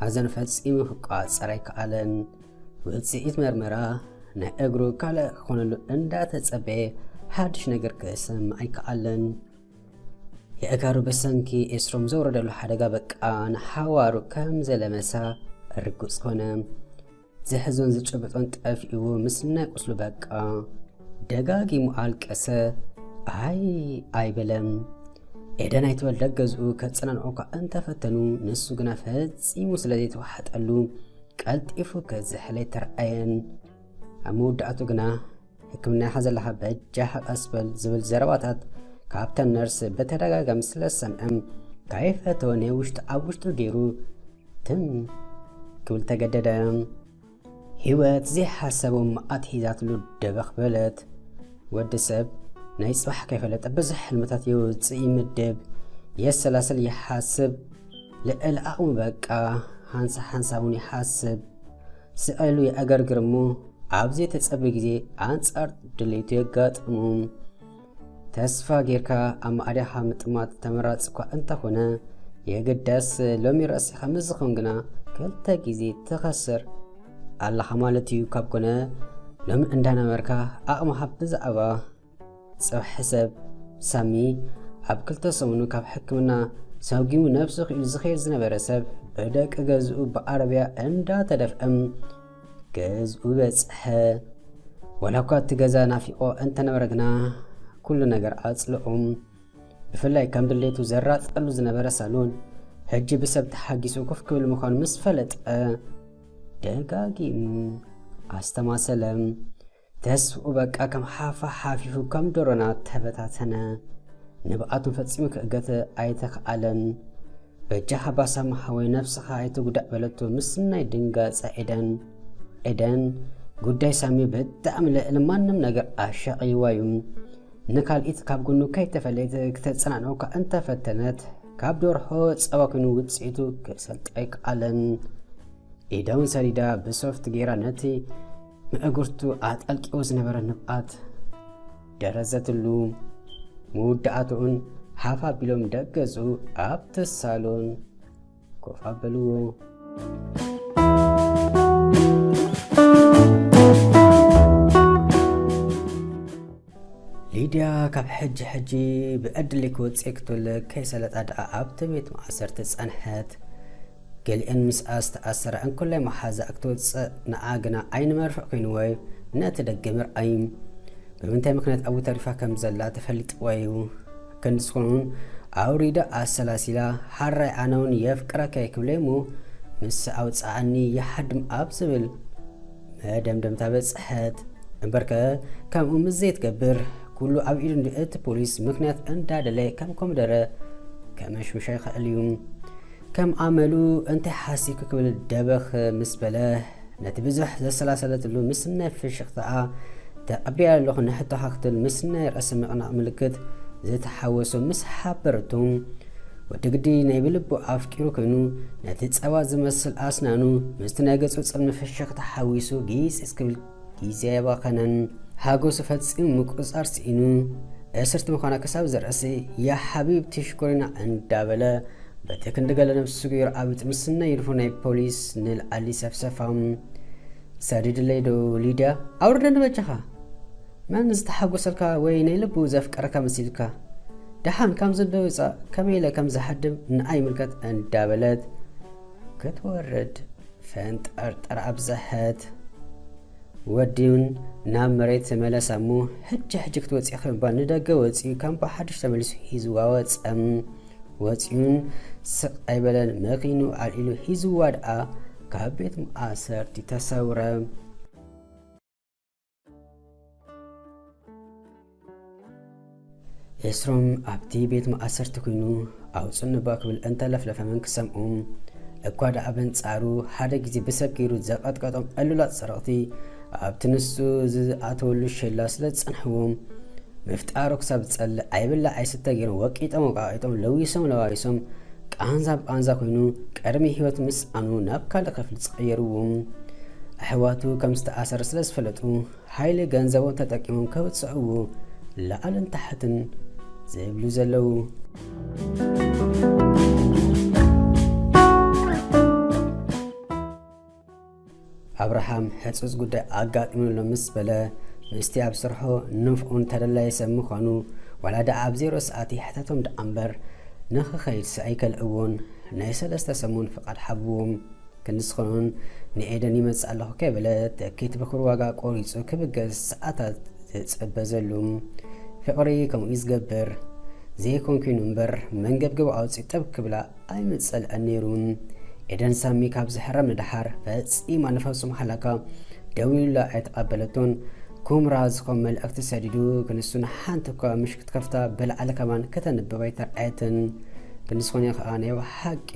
ሓዘን ፈጺሙ ክቋጸር ኣይከኣለን። ውጽኢት መርመራ ናይ እግሩ ካልእ ክኾነሉ እንዳተጸበየ ሓድሽ ነገር ክሰምዕ ኣይከኣለን። የእጋሩ ብሰንኪ ኤስሮም ዘውረደሉ ሓደጋ በቃ ንሓዋሩ ከም ዘለመሳ ርጉጽ ኮነ። ዝሕዞን ዝጭብጦን ጠፊእዎ ምስናይ ቁስሉ በቃ ደጋጊሙ ኣልቀሰ ኣይ ኣይበለም ኤደን ኣይትበል ደገዝኡ ከጸናንዑ እኳ እንተፈተኑ ንሱ ግና ፈጺሙ ስለ ዘይተዋሓጠሉ ቀልጢፉ ክዝሕለይ ተረኣየን ኣብ መወዳእቱ ግና ሕክምና ኢኻ ዘለኻ በጃኻ ቀስ በል ዝብል ዘረባታት ካብተን ነርስ ብተደጋጋሚ ስለ ዝሰምዐም ካይፈተወ ናይ ውሽጡ ኣብ ውሽጡ ገይሩ ትም ክብል ተገደደ ህይወት ዘይሓሰቦ መኣት ሒዛትሉ ደበኽ በለት ወዲ ሰብ ናይ ጽባሕ ከይፈለጠ ብዙሕ ሕልምታት የውፅእ ይምድብ የሰላስል ይሓስብ ልዕሊ ኣቕሙ በቃ ሓንሳ ሓንሳ እውን ይሓስብ ስዕሉ የዕገርግር እሞ ኣብ ዘይተጸበ ግዜ ኣንጻር ድሌቱ የጋጥሙ። ተስፋ ጌርካ ኣብ ማዕዳኻ ምጥማት ተመራጺ እኳ እንተኾነ የግዳስ ሎሚ ርእሲኻ ምስ ዝኾን ግና ክልተ ግዜ ትኸስር ኣለኻ ማለት እዩ። ካብ ኮነ ሎሚ እንዳነበርካ ኣቕምኻ ብዛዕባ ጽባሕ ሕሰብ ሳሚ ኣብ ክልተ ሰሙኑ ካብ ሕክምና ሰጒሙ ነብሱ ክኢሉ ዝኸይድ ዝነበረ ሰብ ብደቂ ገዝኡ ብዓረብያ እንዳተደፍእም ገዝኡ በጽሐ። ወላ እኳ እቲ ገዛ ናፊቆ እንተነበረ ግና ኩሉ ነገር ኣጽልኡም ብፍላይ ከም ድሌቱ ዘራጸሉ ዝነበረ ሳሎን ሕጂ ብሰብ ተሓጊሱ ኮፍ ክብል ምዃኑ ምስ ፈለጠ ደጋጊሙ ኣስተማሰለ። ተስፍኡ በቃ ከም ሓፋ ሓፊፉ ከም ዶሮና ተበታተነ። ንብዓቱ ፈጺሙ ክእገት ኣይተኽኣለን። በጃኻ ባሳማ ሓወይ ነብስኻ ኣይትጉዳእ በለቶ ምስናይ ድንጋጸ ኤደን። ኤደን ጉዳይ ሳሚ ብጣዕሚ ልዕሊ ማንም ነገር ኣሻቕይዋ እዩ። ንካልኢት ካብ ጎኑ ከይተፈለየት ክተጸናንዖካ እንተፈተነት ካብ ደርሖ ጸባ ኮይኑ ውጽኢቱ ክሰልጣ ኣይከኣለን። ኢዳውን ሰዲዳ ብሶፍት ጌራ ነቲ ንእግርቱ ኣጠልቂዎ ዝነበረ ንብኣት ደረዘትሉ። መወዳእትኡን ሃፍ ኣቢሎም ደገዙ ኣብቲ ሳሎን ኮፍ ኣበልዎ። ሊድያ ካብ ሕጂ ሕጂ ብዕድል ክወጽእ ክትብል ከይሰለጣ ድኣ ኣብቲ ቤት ማእሰርቲ ጸንሐት። ገሊኤን ምስኣ ዝተኣሰራ እንክላይ መሓዛኣ ክትወጽእ ንኣ ግና ኣይንመርሕ ኮይንዎዩ ነቲ ደገ ምርኣይ። ብምንታይ ምክንያት ኣብኡ ተሪፋ ከም ዘላ ተፈሊጥዋዩ። ክንዲ ዝኾነውን ኣውሪዳ ኣሰላሲላ ሓራይ ኣነውን የፍቅረካየ ክብለዩሞ ምስ ኣውጽኣኒ ይሓድም ኣብ ዝብል መደምደምታ በጽሐት። እምበርከ ከምኡ ምስ ዘይትገብር ኩሉ ኣብ ኢዱ እንዲ እቲ ፖሊስ ምክንያት እንዳደለ ከም ኮምደረ ከመሽምሻ ይኽእል እዩ። ከም ኣመሉ እንታይ ሓሲብኪ ክብል ደበኽ ምስ በለ ነቲ ብዙሕ ዘሰላሰለትሉ ምስናይ ፍሽኽታኣ ተቐቢያ ኣለኹ ንሕቶኻ ክትብል ምስናይ ርእሲ ምቕናቕ ምልክት ዝተሓወሶ ምስ ሓበረቱ ወዲ ግዲ ናይ ብልቡ ኣፍቂሩ ኮይኑ ነቲ ጸባ ዝመስል ኣስናኑ ምስቲ ናይ ገጹ ጽልሚ ፍሽኽታ ሓዊሱ ጊጽጽ ክብል ግዜ ኣየባኸነን። ሓጎሱ ፈጺሙ ምቁጽጻር ስኢኑ እስርቲ ምዃና ክሳብ ዝርእሲ ያ ሓቢብቲ ሽኮሪና እንዳበለ በቲ ክንዲ ገለ ነብሱ ገይሩ ኣብ ጥምስና ይድፎ ናይ ፖሊስ ንልዓሊ ሰፍሰፋ። ሰዲድለይ ዶ ሊድያ ኣውርደኒ በጃኻ። መን ዝተሓጎሰልካ ወይ ናይ ልቡ ዘፍቀረካ መሲልካ ደሓን ካብ ዘንበ ውጻእ ከመይ ኢለ ከም ዝሃድም ንኣ ይምልከት እንዳበለት ክትወርድ ፈንጠርጠር ኣብዘሐት። ወዲውን ናብ መሬት ተመለሰ እሞ ሕጂ ሕጂ ክትወጽኢ ክምባል ንደገ ወጺኡ ከም ብሓድሽ ተመሊሱ ሂዝዋ ወጸም ወጺኡን ስቕ ኣይበለን መኪኑ ኣልኢሉ ሂዝዋ ደኣ ካብ ቤት ማእሰርቲ ተሰውረ። ኤስሮም ኣብቲ ቤት ማእሰርቲ ኮይኑ ኣውፅን እባ ክብል እንተለፍለፈ መን ክሰምዑ እኳ ደኣ በንጻሩ ሓደ ግዜ ብሰብ ገይሩ ዘቐጥቀጦም ዕሉላት ሰረቕቲ ኣብቲ ንሱ ዝኣተወሉ ሸላ ስለ ዝጸንሕዎም ምፍጣሩ ክሳብ ዝጸልእ ኣይብላ ኣይስተ ገይሮም ወቂጦም ወቃቂጦም ለዊሶም ለዋዊሶም ቃንዛ ብቓንዛ ኮይኑ ቀርኒ ህይወት ምስኣኑ ናብ ካልእ ክፍሊ ጸቐየርዎ። ኣሕዋቱ ከም ዝተኣሰረ ስለ ዝፈለጡ ሓይሊ ገንዘቦም ተጠቂሞም ከብጽዕዎ ላዕልን ታሕትን ዝብሉ ዘለዉ። ኣብርሃም ሕጹጽ ጉዳይ ኣጋጢሙሎ ምስ በለ ምስቲ ኣብ ስርሑ ንፍዑን ተደላዪ ሰብ ምዃኑ ዋላ ደኣ ኣብ ዜሮ ሰዓት ይሕተቶም ደኣ እምበር ንኽኸይድሲ ኣይከልእዎን ናይ ሰለስተ ሰሙን ፍቓድ ሓብዎም ክንስኹን ንኤደን ይመጽእ ኣለኹ ከይበለ ትኬት ብኩር ዋጋ ቆሪጹ ክብገስ ሰዓታት ዝጽበ ዘሉ ፍቕሪ ከምኡ ዝገብር ዘይኮንኩይኑ እምበር መንገብገቡ ኣውጺኡ ጠብ ክብላ ኣይምጸልዐን ነይሩ። ኤደን ሳሚ ካብ ዝሕረም ንደሓር ፈጺማ ንፈጹም ሓላካ ደው ኢሉላ ኣይተቐበለቶን። ኩምራ ዝኮም መልእኽቲ ሰዲዱ ክንሱን ሓንቲ እኳ ምሽ ክትከፍታ ብልዓል ከማን ከተንብብ ኣይተርኣየትን። ክንስኮንዮ ከኣ ናይ ሓቂ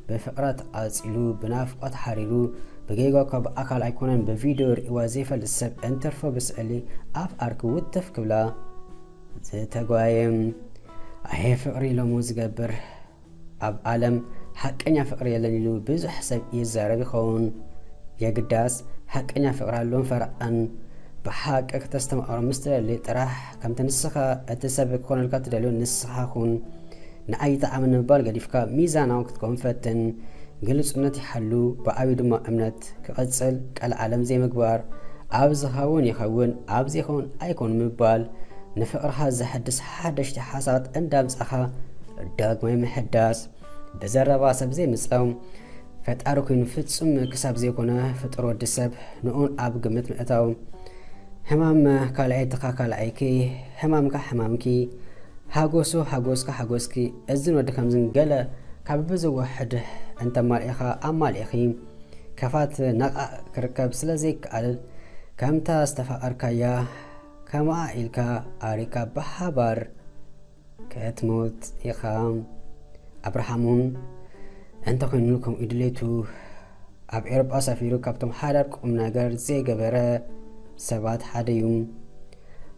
ብፍቕራ ተቓጺሉ ብናፍቆት ሓሪሩ ብጌጋ እኳ ብኣካል ኣይኮነን ብቪድዮ ርእዋ ዘይፈልጥ ሰብ እንተርፎ ብስዕሊ ኣፍ ኣርኪ ውትፍ ክብላ ዝተጓየም ኣየ ፍቅሪ ኢሎሞ ዝገብር ኣብ ኣለም ሓቀኛ ፍቅሪ የለን ኢሉ ብዙሕ ሰብ ይዛረብ ይኸውን የግዳስ ሓቀኛ ፍቅሪ ኣሎን ፈረቃን ብሓቂ ክተስተማቅሮም ምስ ትደሊ ጥራሕ ከምቲ ንስኻ እቲ ሰብ ክኾነልካ ትደልዮ ንስኻ ኩን ንኣይ ይጥዓመኒ ምባል ገዲፍካ ሚዛናዊ ክትከውን ፈትን ግልጹነት ይሓሉ ብዓብዩ ድማ እምነት ስርዓት ክቕጽል ቀልዓለም ዘይምግባር፣ ኣብ ዝኸውን ይኸውን ኣብ ዘይኸውን ኣይኮን ምባል፣ ንፍቕርኻ ዘሐድስ ሓደሽቲ ሓሳባት እንዳምጻኻ ዳግማይ ምሕዳስ፣ ብዘረባ ሰብ ዘይምጸው ፈጣሪ ኮይኑ ፍጹም ክሳብ ዘይኮነ ፍጡር ወዲ ሰብ ንኡን ኣብ ግምት ምእታው፣ ሕማም ካልኣይትኻ ካልኣይኪ፣ ሕማምካ ሕማምኪ፣ ሓጎሱ ሓጎስካ ሓጎስኪ፣ እዝን ወዲ ከምዝን ገለ ካብ ብዝወሕድ እንተማልኢኻ ኣማልኢኺ፣ ከፋት ነቓእ ክርከብ ስለ ዘይከኣል፣ ከምታ ዝተፋቐርካያ ከምኣ ኢልካ ኣሪካ ብሓባር ክትሞት ኢኻ። ኣብርሃም'ውን እንተኾይኑ ከምኡ እዩ ድሌቱ። ኣብ ኤውሮጳ ሰፊሩ ካብቶም ሓዳር ቁም ነገር ዘይገበረ ሰባት ሓደ እዩ።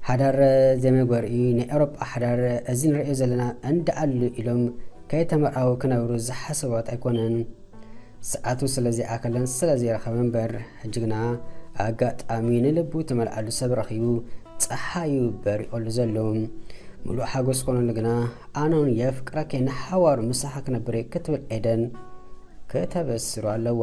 ሓዳር ዘይመግበሪ እዩ። ናይ ኤውሮጳ ሓዳር እዚ ንርእዮ ዘለና እንዳኣሉ ኢሎም ከይተመርዓው ክነብሩ ዝሓሰባት ኣይኮነን። ሰዓቱ ስለ ዘይኣከለን ስለ ዘይረኸበ እምበር ሕጂ ግና ኣጋጣሚ ንልቡ ትመልኣሉ ሰብ ረኺቡ ፀሓዩ በሪቐሉ ዘሎ ምሉእ ሓጎስ ኮነሉ ግና ኣነውን የፍቅረኪ ንሓዋሩ ምሳኺ ክነብር ክትብል ኤደን ከተበስሩ ኣለዋ።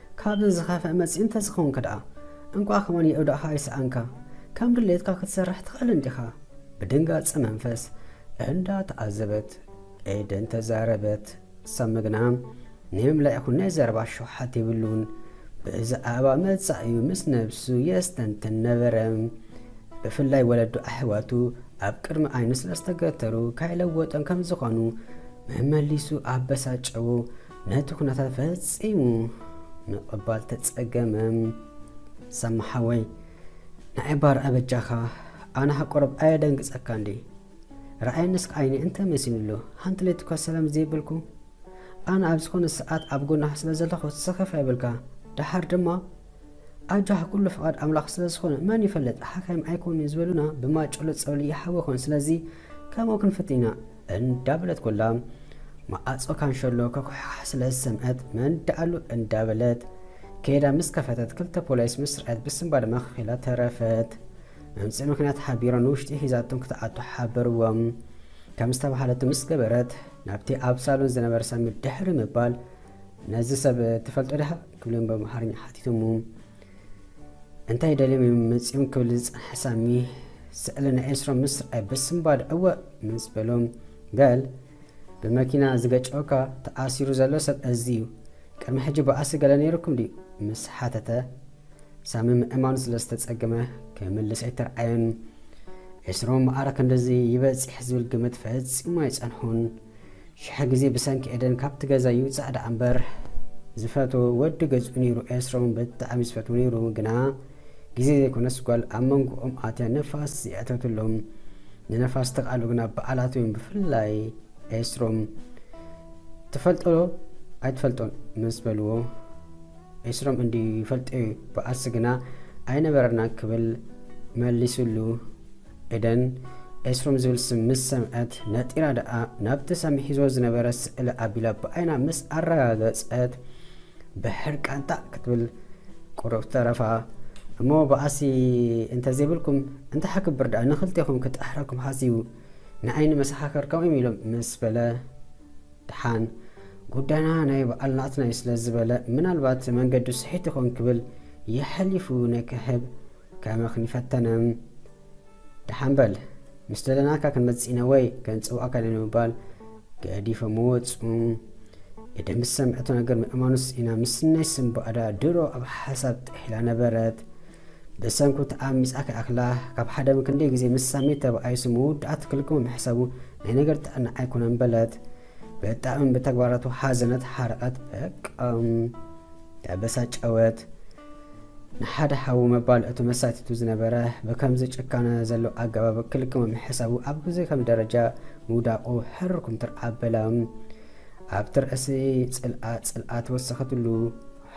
ካብዚ ዝኸፍእ መጺኡ እንተዝኸውንከ ድኣ? እንቋዕ ከማን የእዳእኻ ኣይሰኣንካ። ከም ድሌትካ ክትሰርሕ ትኽእል እንዲኻ። ብድንጋጸ መንፈስ እንዳ ተዓዘበት ኤደን ተዛረበት። ሳሚ ግና ንይምላይ ይኹን ናይ ዘረባ ሸውሓት የብሉን። ብዛዕባ መጻኢኡ ምስ ነብሱ የስተንትን ነበረ። ብፍላይ ወለዱ ኣሕዋቱ ኣብ ቅድሚ ዓይኑ ስለዝተገተሩ ካይለወጦም ከምዝኾኑ መመሊሱ ኣበሳጨዎ። ነቲ ኩነታት ፈጺሙ ምቕባል ተጸገመ። ሰማ ሓወይ ንዓይባ ረኣ በጃኻ ኣነ ሃቆረብ ኣየደንግጸካ እንዲ ረኣይ ንስክ ዓይኒ እንተ መሲንሉ ሓንቲ ለይቲ እኳ ሰላም ዘይብልኩ ኣነ ኣብ ዝኾነ ሰዓት ኣብ ጎናኻ ስለ ዘለኹ ሰኸፍ ኣይብልካ ደሓር ድማ ኣጃህ ኩሉ ፍቓድ ኣምላኽ ስለ ዝኾነ መን ይፈልጥ ሓካይም ኣይኮኑ ዝበሉና ብማጨሎ ጸብሊ ይሓወኾን ስለዚ ከምኡ ክንፍት ኢና እንዳበለት ኮላ መኣጾ ካንሸሎ ከኩሓሕ ስለ ዝሰምዐት መን ደኣሉ እንዳበለት ከይዳ ምስ ከፈተት ክልተ ፖሊስ ምስ ረኣየት ብስንባ ድማ ከኺላ ተረፈት። መምጽኢ ምክንያት ሓቢሮም ንውሽጢ ሒዛቶም ክትኣቱ ሓበርዎም። ከም ዝተባሃለቱ ምስ ገበረት ናብቲ ኣብ ሳሎን ዝነበረ ሳሚ ድሕሪ ምባል ነዚ ሰብ ትፈልጦ ድኻ ክብልም በምሃርኛ ሓቲቶሙ። እንታይ ደልዮም እዮም መጺኦም ክብል ዝጸንሐ ሳሚ ስዕሊ ናይ ኤልስሮ ምስ ረኣየ ብስምባድ እወ ምስ በሎ ገል ብመኪና ዝገጨወካ ተኣሲሩ ዘሎ ሰብ እዚ እዩ ቅድሚ ሕጂ ብኣሲ ገለ ነይሩኩም ድዩ ምስ ሓተተ ሳሚ ምእማኑ ስለ ዝተጸገመ ክምልስ ኣይተረኣየን ኤስሮም ማዕረ ክንድዚ ይበጺሕ ዝብል ግምት ፈጺሙ ኣይጸንሑን ሽሕ ግዜ ብሰንኪ ኤደን ካብቲ ገዛ ይውጻእ ደኣ እምበር ዝፈትዎ ወዲ ገዝኡ ነይሩ ኤስሮም ብጣዕሚ ዝፈትዎ ነይሩ ግና ግዜ ዘይኮነስ ጓል ኣብ መንጎኦም ኣትያ ንፋስ ዝየእተትሎም ንነፋስ ተቃሉ ግና በዓላት እዮም ብፍላይ ኤስሮም ትፈልጦ ኣይትፈልጦን ምስ በልዎ ኤስሮም እንዲ ይፈልጦ እዩ በዓልሲ ግና ኣይነበረናን ክብል መሊስሉ ኤደን ኤስሮም ዝብል ስም ምስ ሰምዐት ነጢራ ደኣ ናብቲ ሳሚ ሒዝዎ ዝነበረ ስእሊ ኣቢላ ብዓይና ምስ ኣረጋገጸት ብሕርቃን ታዕ ክትብል ቁሩብ ተረፋ። እሞ በኣሲ እንተዘይብልኩም እንተሓ ክብር ደኣ ንኽልቴኹም ክጥሕረኩም ሓሲቡ ንዓይኒ መሰኻኽር ከምኦም ኢሎም ምስ በለ ድሓን ጉዳይና ናይ በዓል ናትናይ ስለ ዝበለ ምናልባት መንገዱ ስሒት ይኾን ክብል የሐሊፉ ነክሕብ ከመክ ንፈተነ ደሓን በል ምስ ደለናካ ክንመጽእ ኢና ወይ ከንጽውዓካ ኢና ንምባል ገዲፎሞ ወጹ። ኢደ ምስ ሰምዐቶ ነገር ምእማኑስ ኢና ምስናይ ስም ባዕዳ ድሮ ኣብ ሓሳብ ጥሒላ ነበረት። ብሰንኩ ተኣሚጻ ክኣክላ ካብ ሓደም ክንደይ ግዜ ምስ ሳሚ ተባኣይሱ መወዳእታ ክልግሞ ምሕሳቡ ናይ ነገር ጥዕና ኣይኮነን በለት። ብጣዕሚ ብተግባራቱ ሓዘነት ሓረቐት በቃም ተበሳጨወት። ንሓደ ሓዊ መባል እቲ መሳቲቱ ዝነበረ ብከምዚ ጭካነ ዘሎ ኣገባብ ክልክመም ሕሳቡ ኣብ ግዜ ከም ደረጃ ምውዳቑ ሕርር ኩምትር ኣበላም ኣብቲ ርእሲ ጽልኣ ጽልኣ ተወሰኸትሉ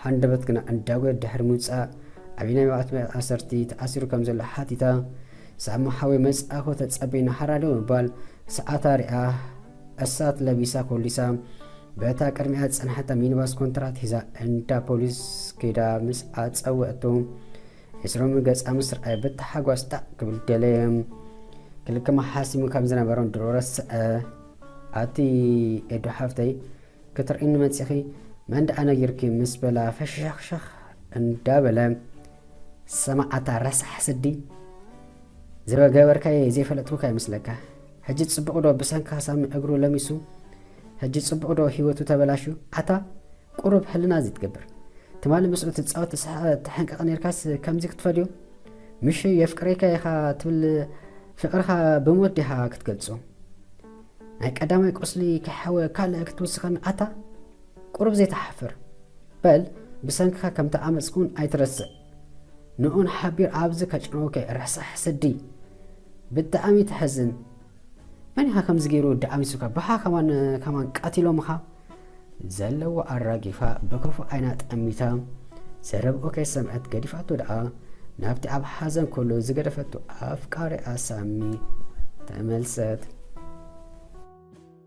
ሓንደበት ግና እንዳጎየት ድሕሪ ምውጻእ ኣቢናይ መቕት ኣሰርቲ ተኣሲሩ ከም ዘሎ ሓቲታ ሳማ ሓወይ መጻእኮ ተጸበይና ሓራዶ ምባል ሰዓታ ሪኣ እሳት ለቢሳ ኮሊሳ በታ ቅድሚኣ ዝጸንሓታ ሚኒባስ ኮንትራት ሒዛ እንዳ ፖሊስ ከይዳ ምስ ኣጸውዐቶ ዕስሮም ገጻ ምስ ረኣየ ብታሓጓስ ጣዕ ክብል ደለየ። ክልክማ ሓሲሙ ከም ዝነበሮን ድሮ ረስዐ። ኣቲ ኤዱ ሓፍተይ ክትርእኒ መጺኺ መን ደኣ ነጊርኪ ምስ በላ ፈሸሸኽሸኽ እንዳበለ ሰማዓታ ረሳሕ ስዲ ዝበገበርካየ ዘይፈለጥኩካ ይመስለካ ሕጂ ጽቡቅ ዶ ብሰንካ ሳሚ እግሩ ለሚሱ ሕጂ ጽቡቅ ዶ ሂወቱ ተበላሹ ኣታ ቁሩብ ሕልና ዝይትገብር ትማሊ ምስኡ ትጻወት ትስሕቅ ትሕንቅቅ ኔርካስ ከምዚ ክትፈድዮ ምሽ የፍቅሬካ ኢካ ትብል ፍቅርካ ብሞት ዲካ ክትገልጾ ናይ ቀዳማይ ቁስሊ ከይሓወ ካልእ ክትውስከኒ ኣታ ቁሩብ ዘይትሓፍር በል ብሰንክካ ከምተኣመጽኩ ውን ኣይትረስዕ ንዑን ሓቢር ኣብዚ ከጭንውከ ረሳሕ ስዲ ብጣዕሚ ተሕዝን መን ኢኻ ከምዚ ገይሩ ደኣሚሱካ ባሓ ከማን ከማን ቀቲሎምኻ ዘለዎ ኣራጊፋ ብክፉእ ዓይና ጠሚታ ዘረብኡ ከይሰምዐት ገዲፋቶ ደኣ ናብቲ ኣብ ሓዘን ኩሉ ዝገደፈቱ ኣፍቃሪኣ ሳሚ ተመልሰት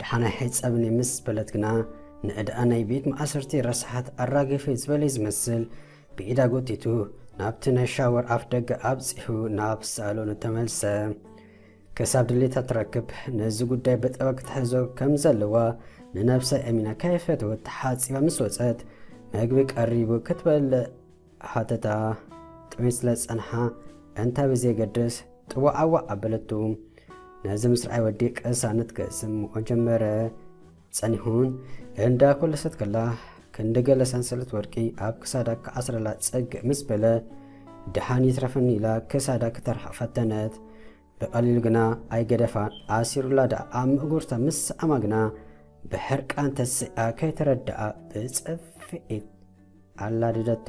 ደሓናይ ሕጸብኒ ምስ በለት ግና ንዕዳኣ ናይ ቤት ማእሰርቲ ረሳሓት ኣራግፊ ዝበለይ ዝመስል ብኢዳ ጎቲቱ ናብቲ ናይ ሻወር ኣፍ ደገ ኣብጺሑ ናብ ሳሎኑ ተመልሰ። ክሳብ ድሌታ ትረክብ ነዚ ጉዳይ በጠባ ክትሕዞ ከም ዘለዋ ንነብሳ ኣሚና ከይፈተወት ተሓጺባ ምስ ወጸት መግቢ ቀሪቡ ክትበልዕ ሓተታ፣ ጥሜት ስለ ዝጸንሓ እንታይ ብዘየገድስ ጥዋዓዋዕ ኣበለቶ። ነዚ ምስ ረኣየ ወዲ ቅሳነት ክስምዖ ጀመረ። ጸኒሑን እንዳ ኮለሰት ከላ ክንዲ ገለ ሰንሰለት ወርቂ ኣብ ክሳዳ ክኣስረላ ጽግእ ምስ በለ፣ ደሓን ይትረፈኒ ኢላ ክሳዳ ክተርሕቕ ፈተነት። ብቐሊሉ ግና ኣይገደፋን፣ ኣሲሩላ ደኣ ኣብ ምእጉርታ ምስ ሰኣማ ግና ብሕርቃን ተሲኣ ከይተረደኣ ብጽፍዒት ኣላደደቱ።